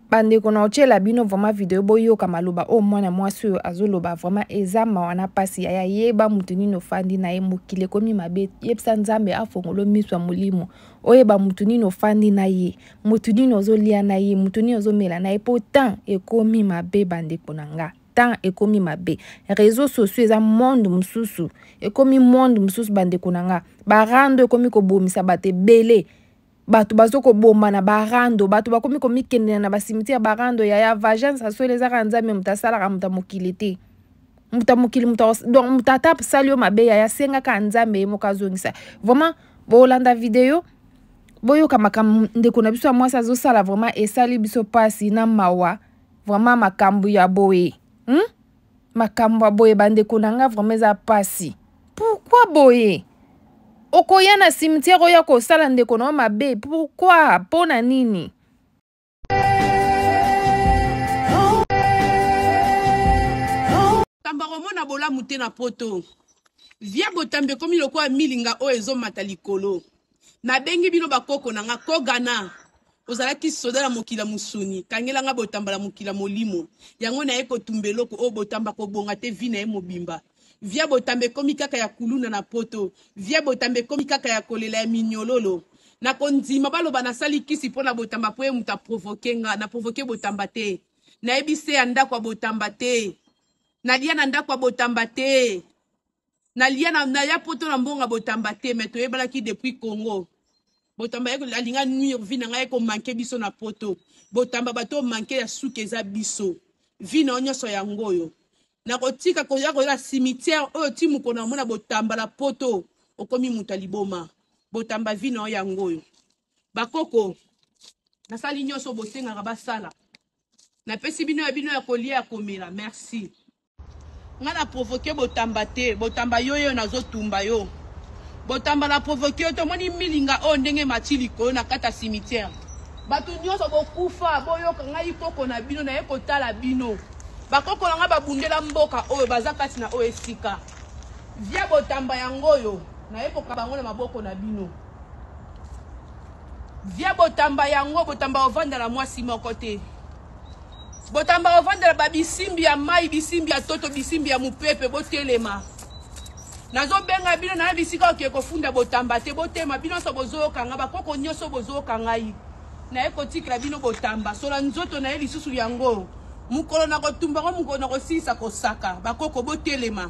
bandeko na otyela bino vraiment video boyoka maloba oyo mwana mwasi oyo azoloba vraiment eza mawa na mpasi yaya yeba moto nini ofandi na ye mokili ekomi mabe yebisa nzambe afongolo miso ya molimo oyeba moto nini ofandi na ye moto nini ozolia na ye moto nini ozomela na ye mpo temps ekomi mabe bandeko na nga temps ekomi mabe réseau sociaux eza monde mosusu ekomi monde mosusu bandeko na nga barando ekomi kobomisa bato ebele bato bazo kobomba na barando bato bakomi komikendela na basimitiere barando yaya vagence asweli eza kaka nzambe moto asalaka moto ya mokili te moto ya mokili moto donc moto ata asali yo mabe yaya asengaka nzambe ye moko azongisa vraiment bolanda video boyoka makambo ndeko na biso ya mwasi azosala vraiment esali biso mpasi na mawa vraiment makambo ya boye hmm? makambo ya boye bandeko na nga vraiment eza pasi pourkui boye okoya na cimetière oya kosala ndeko na yo mabe pourkui mpo na nini kamba komona bolamu te na poto via botambi ekomi lokola milinga oyo ezomata likolo nabengi bino bakoko na nga kogana ozalaki soda na mokila mosuni kangela nga botamba na mokila molimo yango naye kotumba eloko oyo botamba kobonga te vi na ye mobimba via botamba ekomi kaka ya kuluna na poto via botamba ekomi kaka ya kolela ya minyololo na kondima baloba nasali kisi mpo na botamba mpo ye moto aprovoke nga na provoke botamba te nayebi se ya ndako ya botamba te nalia na ndako ya botamba te nalia na, na ya poto na mbonga botamba te me toyebanaki depuis congo botamba alinga nuire vi na ngai ekomanke biso na poto botamba bato oyo manke ya suki eza biso vi na yo nyonso yango oyo nakotika koya koyela cimetière oyo ti mokolo na omona botamba na poto okomi moto ya liboma botamba vi na yo yango oyo bakoko nasali nyonso bosengaka basala napesi bino ya bino ya kolia ya komela merci Nga na provoque botamba te botamba yo yo nazo tumba yo botamba na provoque yo tomoni milinga oyo ndenge mati likolo na kata cimetière bato nyonso bokufa boyoka ngai koko na bino naye kotala bino bakoko na ngai babundela mboka oyo baza kati na oyo esika via botamba yango oyo naye kokaba yango na maboko na bino via botamba yango botamba ovanda na mwasi moko te Botamba ovandela ba bisimbi ya mai, bisimbi ya toto, bisimbi ya mupepe, botelema. Nazobenga bino na bisika oke kofunda botamba te, botema bino so bozoyoka nga, bakoko nyoso bozoyoka ngai. Na ye kotikela bino botamba, sola nzoto na ye lisusu yango. Mukolo na kotumba ngo mukolo na kosilisa kosaka, bakoko botelema.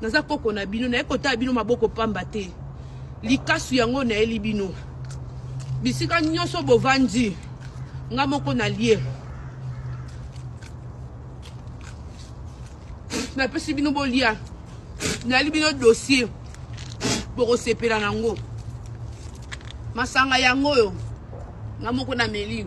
Naza koko na bino, naye kotala bino maboko pamba te. Likasu yango nayeli bino. Bisika nyoso bovandi, nga moko nalie. Napesi bino bolia. Nayeli bino dossier. Bokosepela nango. Masanga yango oyo nga moko nameli.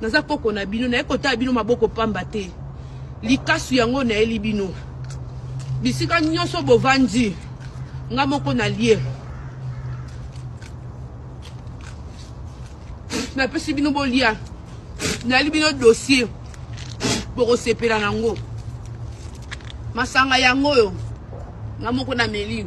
Naza koko na bino, naye kotala bino maboko pamba te. Likasu yango nayeli bino. Bisika nyonso bovandi, nga moko nalie. Napesi bino bolia. Nayeli bino dossier. Bokosepela na yango. Masanga yango oyo, nga moko nameli.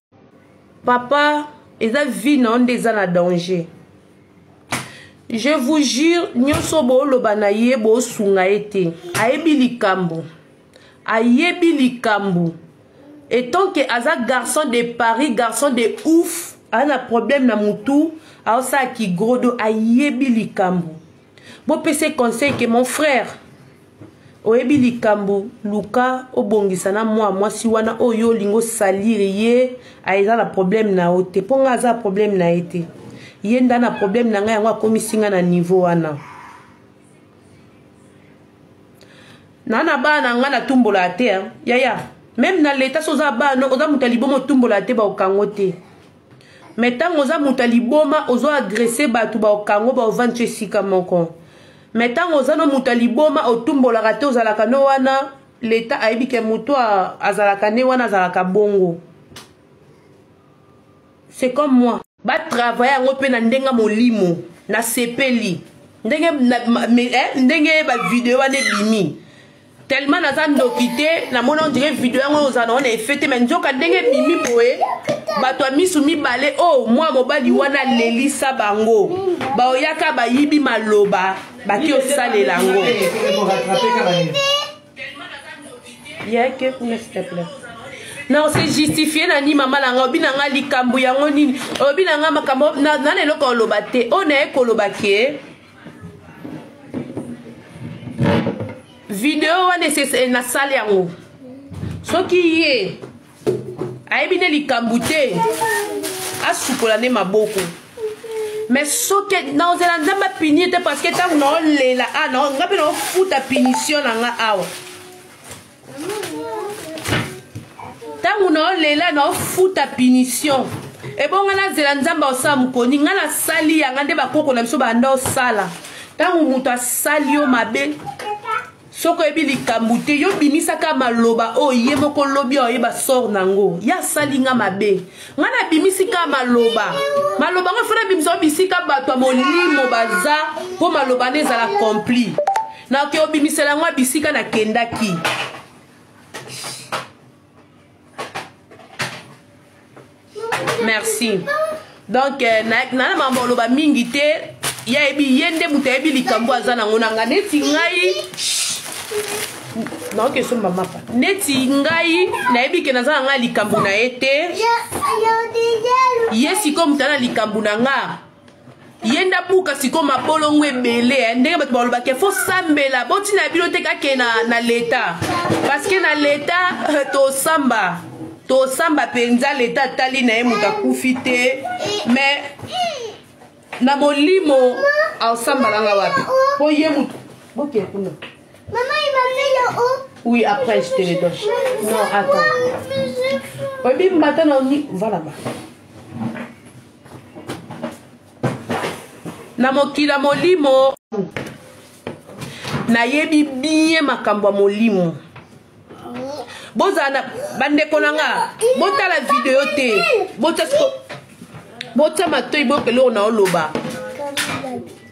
papa eza vie na yo nde eza na danger je vous jure nyonso booloba na ye boosunga ye te ayebi likambo ayebi likambo etant ke aza garçon de paris garçon de ouf aza na problème na motu aosala kigrodo ayebi likambo bopesa ye conseil ke mon frère oyebi likambo luka obongisa na mwa mwasi wana oyo yo olingi osalire ye aza na problème na yo te mpo ngai aza na problème na ye te ye nda na problème na ngai yango akomisi ngai na niveau wana na na bana na ngai natumbolaka te yaya meme na leta so oza bana oza moto ya liboma otumbolaka te baokango te me ntango oza moto ya liboma ozo agrese bato baokango baovandisa esika moko me ntango oza no moto ya liboma otumbolaka te ozalaka no wana leta ayebi ke moto azalaka ne wana azalaka bongo c'est comme moi batravaille yango mpe na ndenge molimo nasepeli ndenge, na, me, eh, ndenge bavideo wana ebimi tellement naza ndoki te namona ondire video yango ozala nango na efe te mai nzoka ndenge ebimi boye bato ya misu mibale o oh, mwa mobali wana alelisa bango baoyaka bayibi maloba baki osalela yango yeke kuna sitepla na ose justifie na nini mama na nga obi na nga likambo yango nini obi na nga makambo na na eloko oloba te oyo naye koloba ke video wana esese eh, nasali yango soki ye ayebi nde likambo te asukola nde maboko mais soki naozela nzambe apini te parce que ntango naolela a ah, nga mpe naofuta punition na nga awa ntango naolela naofuta punition ebonga nazela nzambe aosala mokoni ngai nasali yanga nde bakoko na biso banda osala ntango moto asali yo mabe soki oyebi likambo te yo bimisaka maloba oyo ye moko lobi oyeba sor na yango ye asali nga mabe ngai nabimisi kaka maloba maloba ngo fana abimisa ngo bisika bato ya molimo baza mpo maloba nde ezala kompli nakoki obimisela yango bisika nakendaki merci donc euh, nana mambo oloba mingi te ye ayebi ye nde moto ayebi likambo aza nango na nga neti ngai naoki esomba mapa neti ngai nayebi ke naza na ngai likambo na ye te ye sikoyo moto ana likambo na nga ye nda buka sikoyo mabolongo ebele eh. ndenge bato balobaka fo sambela botina bino te kake na, na leta parceke na leta eh, tosamba tosamba mpenza leta atali na ye moto akufi te mais na molimo aosambala nga wapi po ye motu boke kuna oui après je te le donne non attends oyebi mbata na oni va là-bas na mokila molimo nayebi bien makambo ya molimo bozala na bandeko na nga botala video te botya siko botya matoi boyoka eloko na oloba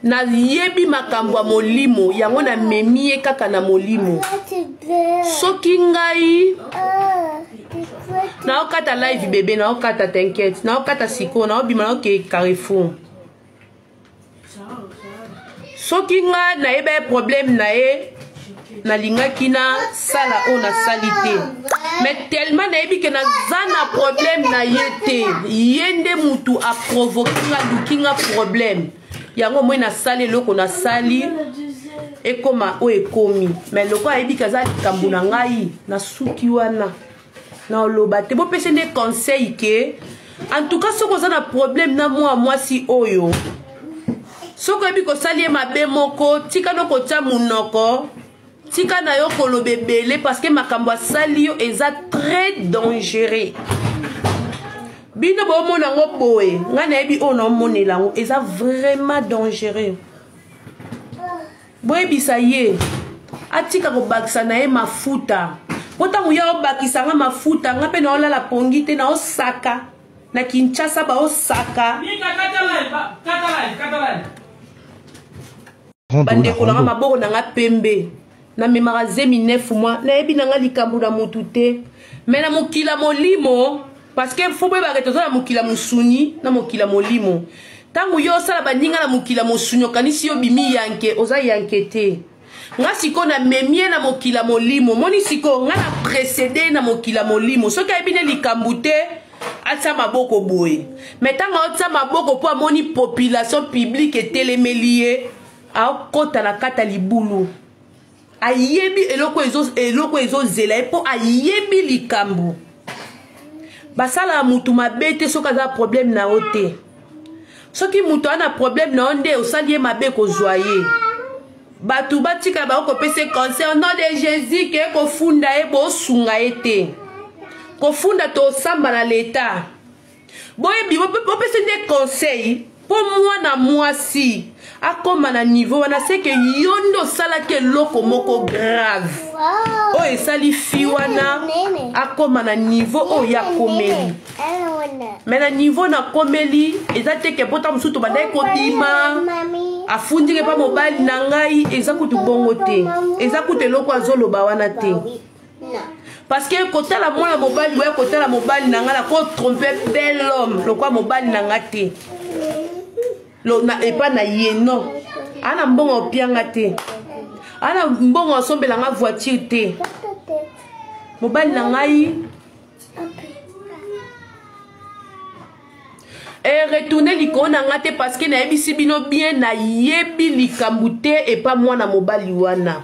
nayebi makambo ya molimo yango namemi ye kaka na molimo soki ngai naokata live bebe naokata tinkete naokata sikoyo naobima naokee carrefour soki nga nayeba ye problème na ye nalingaki nasala oyo nasali te mais tellement nayebi ke naza na problème na ye te ye nde mutu aprovoke nga aluki nga problème yango moi nasali eloko nasali ekoma oyo ekomi mais loko ayebi ke aza likambo na ngai nasuki wana na oloba te bopesi nde conseil ke en tout cas soki oza na problème na mwa mwasi oyo soki oyebi kosali ye mabe moko tika no kotya monoko tika na yo koloba ebele parceke makambo asali yo eza très dangereux bino bomona yango boye ngai nayebi oyo naomonela yango eza vraiment dangereux boyebisa ye atika kobakisa na ye mafuta mpo ntango ya obakisa nga mafuta nga mpe naolala pongi te naosaka na kinshasa baosaka bandeko nanga maboko na nga pembe namemaka zemi 9 mwa nayebi na nga likambo na motu te me na mokila molimo parce que fo boyebaka toza na mokili ya mosuni na mokili ya molimo ntango yo osala baninga na mokili ya mosuni okanisi yo bimi yanke oza yanke te nga sikoyo namemi ye na mokili ya molimo omoni sikoyo nga na precede ye na mokili ya molimo soki ayebi ne likambo te atia maboko boye me ntango aotia maboko mpo amoni population publike etelemeli ye akota na kata libulu ayebi eloko ezo eloko ezozela ye mpo ayebi likambo basalaka motu mabe te soki aza problème na yo te soki motu aza na problème na yo nde osali ye mabe kozwa ye bato batika bango kopesa ye conseil au nom de jésus ke kofunda ye bosunga ye te kofunda tosamba na leta boyebi bopesi nde conseil mpo mwana mwasi akoma na niveau wana seke yo nde osalaki eloko moko grave oyo esali fi wana akoma na niveau oyo ya komeli me na niveau na komeli eza teke mpota mosusu tobandaki oh, kobima afundike mpa mobali na ngai eza kutu bongo te eza kutu eloko azoloba wana te parce que kotala mwana mobali boya kotala mobali na ngai nako trompe bel homme lokwa mobali na ngai te epa na ye non ana mbongo opianga te ana mbongo asombela ngai voiture te mobali na ngai eretourne likolo na ngai te parce que nayebisi bino bien nayebi likambo te epa mwana mobali wana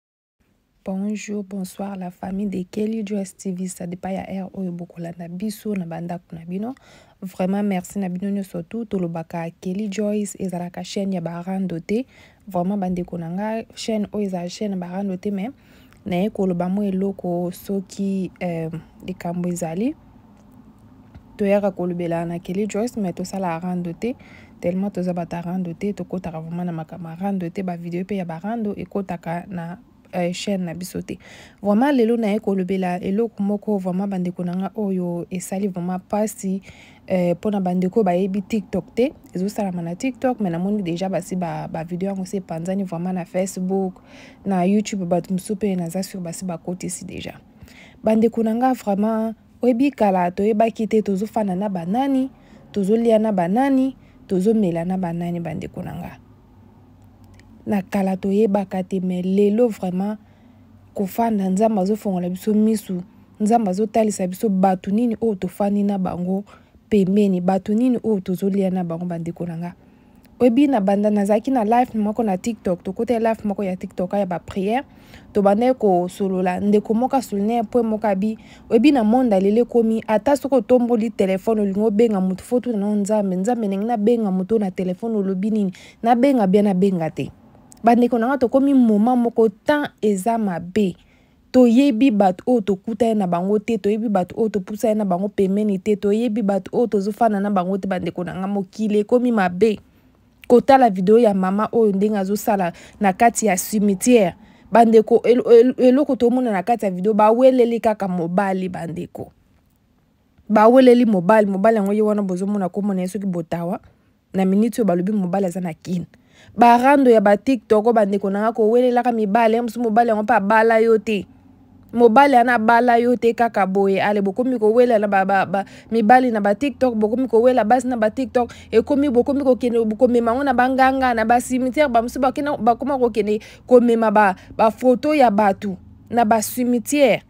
Bonjour, bonsoir la famille de Kelly Joyce TV ça dépend ya heure oyo bokolanda biso na bandako na bino vraiment merci na bino nyonso tu tolobaka Kelly Joyce ezalaka chaîne ya barando te vraiment bandeko na nga chaîne oyo ezala chaîne barando te mais naye koloba mwa eloko soki euh, likambo ezali toyaka kolobela na Kelly Joyce mais tosala rando te tellement toza bata rando te tokotaka vraiment na makambo rando te ba video pe ya ba rando ekotaka na euh, chaîne na biso te vraiment lelo naye kolobela eloko moko vraiment bandeko na nga oyo esali vraiment pasi euh, mpo na bandeko bayebi tiktok te ezosalama na tiktok mais namoni deja basi bavideo yango se epanzani vraiment na facebook na youtube bato mosusu mpe naza sur basi bakotisi deja bandeko na nga vraiment Oyebi kala toyebaki te tozofanda na banani, tozolia na banani, tozomela na banani bandeko na nga. Na kala toyebaka te me lelo vraiment kofanda nzambe azofongola biso misu nzambe azotalisa biso bato nini oyo tofandi na bango pembeni bato nini oyo tozolia na bango bandeko na nga oyebi na banda nazalaki na life moko na tiktok tokotaki life moko ya tiktok ya bapriere tobandaki kosolola ndeko moko asolina mpo moko abi oyebi na monde alele ekomi ata soki otomboli telefone olingi obenga moto fo tuna nao nzambe nzambe ndenge nabenga moto na telefone olobi nini nabenga bia nabenga te bandeko na ngai tokomi moma moko temps eza mabe toyebi bato oyo tokutani na bango te toyebi bato oyo topusani na bango pemeni te toyebi bato oyo tozofanda na bango te bandeko na ngai mokili ekomi mabe kotala video ya mama oyo ndenge azosala na kati ya cimetière bandeko eloko tomona na kati ya video baweleli kaka mobali bandeko baweleli mobali mobali yango ye wana bozomona kombo na ye soki botawa na miniti oyo balobi mobali aza na kin barando ya batiktok oyo bandeko na nga kowelelaka mibali ya mosusu mobali yango mpe abala yo te mobali ana abala yo te kaka boye ale bokomi kowelela ba, ba, ba, mibali na batiktok bokomi kowela basi na batiktok ekomi bokomi kokende komema yango na banganga na basimitiere bamosusu bakoma kokende komema bafoto ba ya bato na basimitiere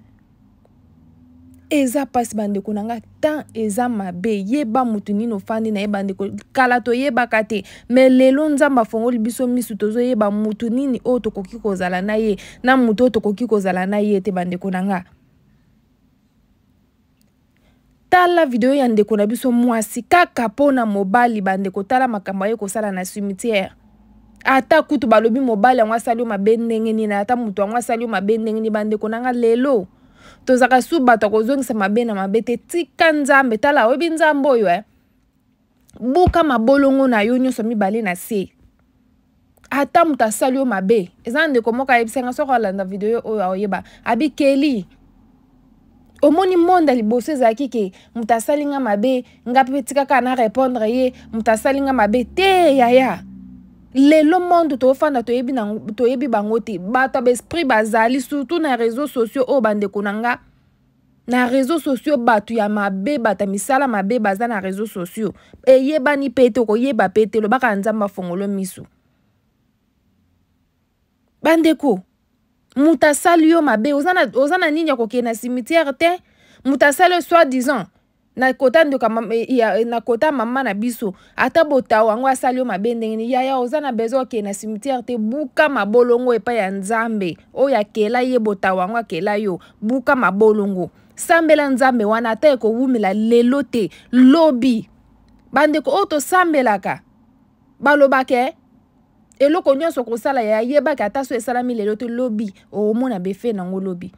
eza mpasi bandeko na ngai temps eza mabe yeba motu nini ofandi na ye bandeko kala toyebaka te me lelo nzambe afongoli biso misu tozoyeba motu nini oyo tokoki kozala na ye na motu oyo tokoki kozala na ye te bandeko na ngai tala video ya ndeko na biso mwasi kaka mpo na mobali bandeko tala makambo aye kosala na cimetière ata kutu balobi mobali yango asali yo mabe ndenge nini ata moto yango asali yo mabe ndenge nini bandeko na nga lelo tozalaka su bato ya kozongisa mabe na mabe te tika nzambe tala oyebi nzambe oyo eh? buka mabolongo na yo nyonso mibale na se ata moto asali yo mabe eza na ndeko moko ayebisanga soki alanda video oyo aoyeba abikeli omoni monde ya liboso ezalaki ke moto asali nga mabe nga mpe tikaka na répondre ye moto asali nga mabe te yaya lelo monde tofanda toyebi, toyebi bango te bato ya baesprit bazali surtout na réseau sociaux oyo bandeko na nga na réseaux sociaux bato ya mabe bato ya misala mabe baza na réseaux sociaux eyebani mpe te okoyeba mpe te lobaka nzambe afongolo miso bandeko moto asali yo mabe oza na, oza na nini ya kokende na cimetière te moto asali yo soit disant na kota ndoka na kota mama na biso ata botao yango asali yo mabe ndenge nini yaya oza na besoin okende na cimetière te buka mabolongo epai ya nzambe oyo akela ye botao yango akela yo buka mabolongo sambela nzambe wana ata ekowumela lelo te lobi bandeko oyo tosambelaka balobaka eh, eloko nyonso okosala yayebaki ata so esalami lelo te lobi okomona befe nango lobi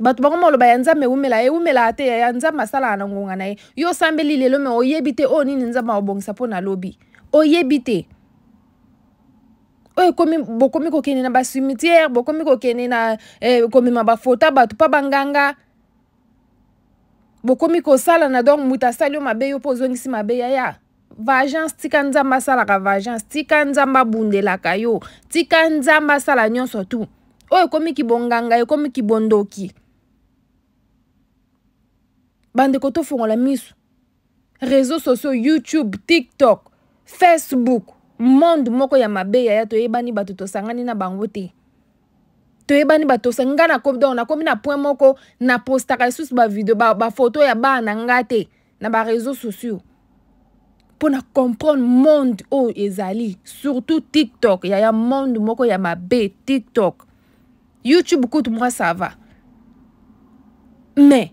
bato bango maloba ya nzambe ewumela ewumelaka te yaya nzambe asalaka na ngonga na ye yo osambeli lelo me oyebi te oyo nini nzambe akobongisa mpo na lobi oyebi te oyo ekomi bokomi kokende na bacimetière bokomi kokende na eh, komema bafota bato mpa banganga bokomi kosalana donc moto asali yo mabe yo mpo ozongisi mabe yaya vagence tika nzambe asalaka vagence tika nzambe abundelaka yo tika nzambe asala nyonso tu oyo ekomi kibonganga ekomi kibondoki bandeko tofongola miso réseau sociaux youtube tiktok facebook monde moko ya mabe yaya toyebani bato tosangani na bango te toyebani bato tosangani ngai nakomi donc nakomi na point moko napostaka lisusu bavideo bafoto ba ya bana na ngai te na ba réseaux sociaux mpo na comprendre monde oyo ezali surtout tiktok yaya monde moko ya mabe tiktok youtube kutu mwa ça va mais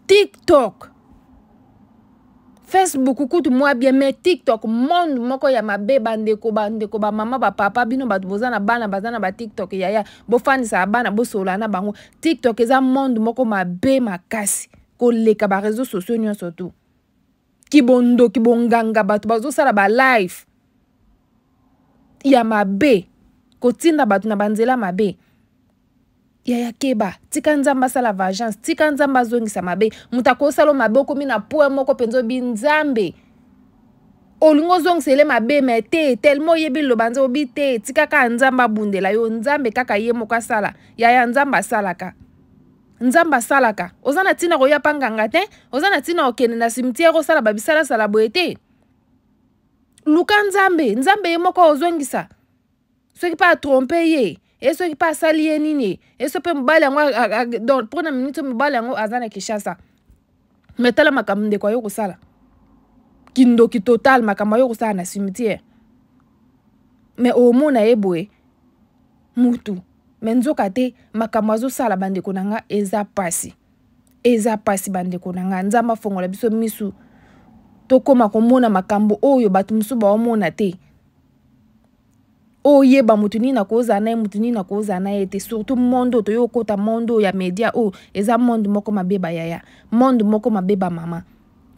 tiktok facebook kutu mwa bien mais tiktok monde moko ya mabe bandeko bandeko bamama bapapa bino bato boza na bana baza na batiktok yaya bofandisaka bana bosolola na bango tiktok eza monde moko mabe makasi koleka ba réseaux sociaux nyonso tu kibondo kibonganga bato bazosala ba live ya mabe kotinda bato na banzela mabe yaya keba tika nzambe asala vagence tika nzambe azongisa mabe moto akosala mabe okomi na poi moko mpenza obi nzambe olingi ozongisa ele mabe me te telema oyebi liloba nzambe obi te tika kaka nzambe abundela yo nzambe kaka ye moko asala yaya nzambe asalaka nzambe asalaka oza na ntina koya mpa nganga te oza na ntina kokende na cimetière osala babisalasala boye te luka nzambe nzambe ye moko ozongisa soki mpe atrompe ye ye soki mpe asali ye nini ye ye so mpe mobali yango donc mpo na minute mobali yango aza na kinshasa me tala makambo ndeko ayo kosala kindoki total makambo ayo kosala na cimetière me omona ye boye mutu me nzoka te makambo azosala bandeko na nga eza mpasi eza mpasi bandeko na nga nzambe afongola biso misu tokóma komona makambo oyo bato mosusu baomona te oyeba moto nini nakozala na ye moto nini nakozala na ye te surtout monde oyo toyei kokota monde oyo ya media oyo eza monde moko mabeba yaya monde moko mabeba mama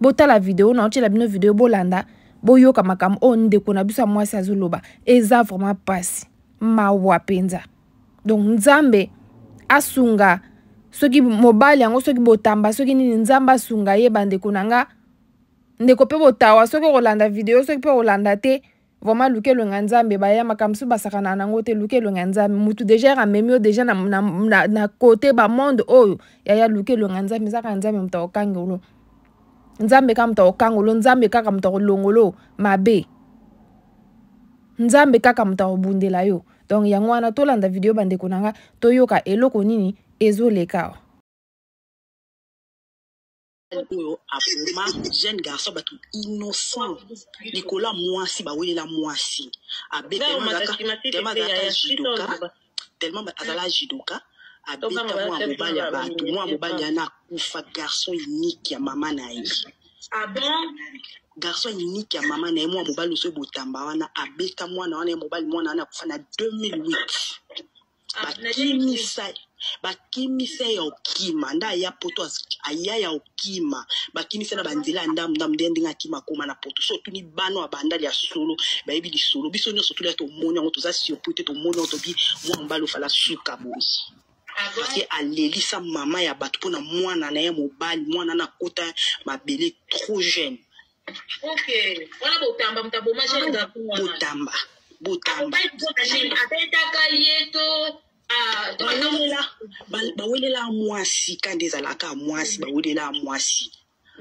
botala video na otyela bino video bolanda boyoka makambo oyo ndeko na biso ya mwasi azoloba eza vraiment mpasi mawa mpenza donc nzambe asunga soki mobali yango soki botamba soki nini nzambe asunga ye bandeko na nga ndeko mpe botawa soki okolanda video soki mpe okolanda te Vraiment luka elongi ya nzambe baya makambo mosusu basakana nango te luka elongi ya nzambe motu deja ere amemi yo deja na, na, na, na kote bamonde oyo yaya luka elongi ya nzambe ezaka nzambe moto akokangelo nzambe kaka moto akokangolo nzambe kaka moto akolongolo mabe nzambe kaka moto akobundela yo donc yango wana tolanda video bandeko na nga toyoka eloko nini ezoleka awa oyo aboma jeune garçon bato innocent likolo ya mwasi bawelela mwasi abeta judoka tellement azala judoka abeta mwa mobali ya bato mwa mobali yana akufa garçon unique ya mama na ye ah garçon unique ya mama na ye mwa mobali oso ebotamba wana abeta mwana wana ya mobali mwana wana akufa na 2008 bakimisa bakimisa ya okima nda aya poto aya ya okima bakimisa na banzela ya ndamu ndamu nde ndenge akima akoma na poto so otuni bana ya banda lya solo bayebi lisolo biso nyonso toli ya tomoni yango toza surpris te tomoni yango tobi mwa mobali ofala suka boye ake alelisa mama ya bato mpona mwana na ye mobali mwana na kota mabele trop jeune Ok. Wana botamba moto aboma jeune garçon wana. botamba botamba abetaka ye to ah, to- bawelela ba- bawelela mwasi ka nde ezalaka mwasi bawelela mwasi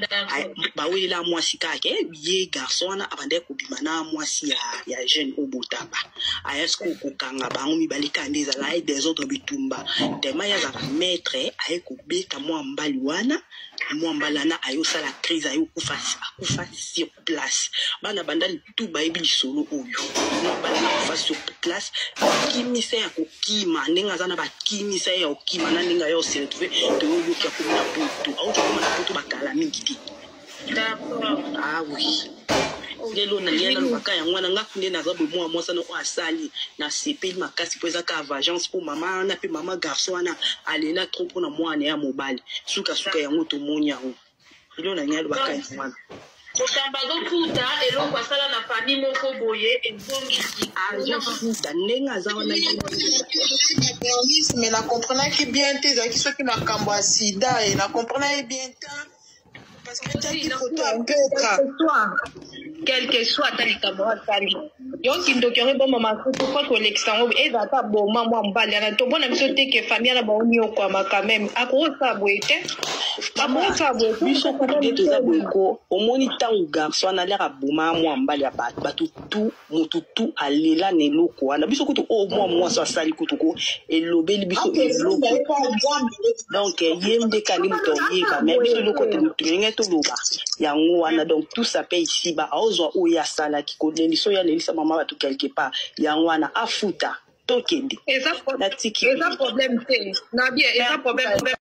D'accord. Ay- bawelela mwasi kaka ke ye garçon wana abandaki kobima na mwasi ya, ya jeune oyo botamba ayasi ko- kokanga bango mibale kaka nde ezalaki desordre bitumba tema ye azalaka maître aye kobeta mwa mbali wana mwamba lana aye osala crise aye okufa akufa sur place bana bandali tu bayebi lisolo oyo mwamba lana akufa sur place akimisa ya kokima ndenge aza na bakimisa ye ya kokima na ndenge aye oseretrouve toyoyoki akoma na poto auti okoma na poto bakala mingi te ah oui lelo na ye nalobaka yango wana nga nde naza bomoa mwasa noko asali nasepeli makasi mpo eza ka vagence mpo mama wana mpe mama garçon wana alela trop mpo na mwana ya mobali sukasuka yango tomoni yango lelo na ye alobaka yango wana kokamba azofuta eloko asala na fami moko boye ezongisi azofuta ndenge aza wana mais na comprenaki bien te ezalaki soki makambo ya sida e na comprenaki bien te quelque soit ata likambo asali yo kindoki yango eboma masusu po kolekisa yango eza ata boma mwa mobali yana tobona biso te ke famille na bango niokwama quand même akokosala boye te akokosala boye biso kutu nde toza boye ko omoni ntango garçon wana alere aboma mwa mobali ya bato bato tout moto tu alela na eloko wana biso kutu oyo mwa mwasi asali kutu ko elobeli biso eloko donc ye nde kani moto oyeba me biso eloko te moto elenge toloba yango wana donc tout ça pe isiba aozwa oyo asalaki kolelisa oyo alelisa mama bato quelque part yango wana afuta tokende natiki eza problème te na bien eza problème